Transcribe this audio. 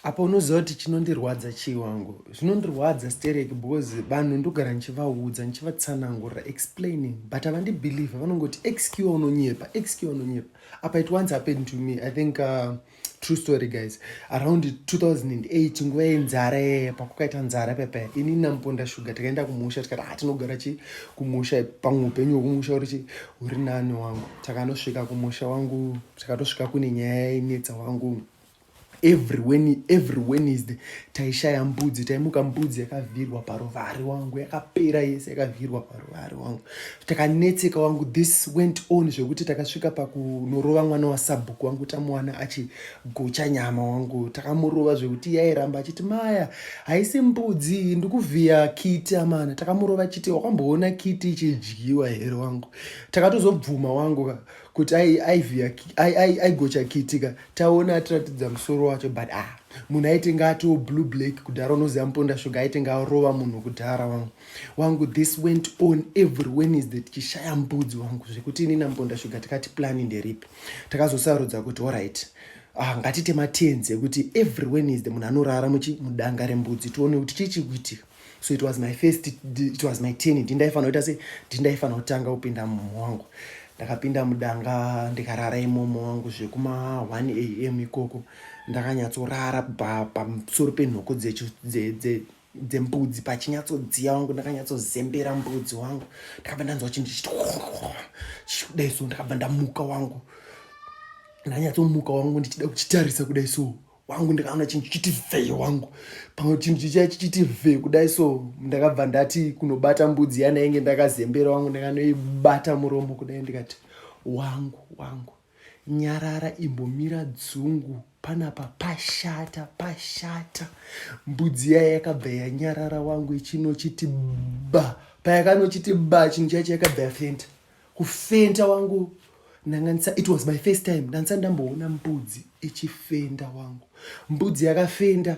apa unoziva kuti chinondirwadza chii wangu zvinondirwadza stereki because vanhu ndogara ndichivaudza ndichivatsanangurira explaining but havandibelieve vanongoti xq unonyepa xq unonyepa apa it once happened to me i think uh, true story guys around 2008 nguva yenzara yeye pakukaita nzara pepe ini namuponda shuga tikaenda kumusha tikati ha ah, tinogara chi kumusha pamwe upenyu hwekumusha uri chi huri nani wangu takanosvika kumusha wangu takatosvika kune nyaya yenetsa wangu every when every wednesday taishaya mbudzi taimuka mbudzi yakavhirwa paruvari wangu yakapera yese yakavhirwa paruvari wangu takanetseka wangu this went on zvekuti takasvika pakunorova mwana wasabhuku wangu tamuwana achigocha nyama wangu takamurova zvekuti yairamba achiti maya haisi mbudzi ndikuvhiya kiti amana takamurova achiti wakamboona kiti ichidyiwa here wangu takatozobvuma wangu kuti aigocha kitika taona atiratidza musoro wacho but ah munhu aitenge atiwo blue black kudhara unoziva muponda shuga aitenge arova munhu kudhara wangu wangu this went on every wednesday tichishaya mbudzi wangu zvekuti ini namuponda shuga tikati plani nderipi takazosarudza kuti orit ah, ngatite matenzi ekuti every wednesday munhu anorara muchimudanga rembudzi tione kuti chii chikuitika so it was my first it was my ten ndi ndaifanira kuita se ndi ndaifanira kutanga kupinda mumwe wangu ndakapinda mudanga ndikarara imomo wangu zvekuma 1 am ikoko ndakanyatsorara pamusoro penhoko dzembudzi pachinyatsodziya wangu ndakanyatsozembera mbudzi wangu ndakabva ndanzwa chinhu chichiti chichikudai so ndakabva ndamuka wangu ndanyatsomuka wangu ndichida kuchitarisa kudai so wangu ndikaona chinhu chichiti vhee wangu pamwe chinhu chichia chichiti vhee kudai so ndakabva ndati kunobata mbudzi yanainge ndakazembera wangu ndakanoibata muromo kudai ndikati wangu wangu nyarara imbomira dzungu panapa pashata pashata mbudzi yaya yakabva yanyarara wangu ichinochiti ba payakanochiti ba chinhu chaicho yakabva yafenda kufenta wangu ndanga ndisa it was my first time ndandisa ndamboona mbudzi ichifenda wangu mbudzi yakafenda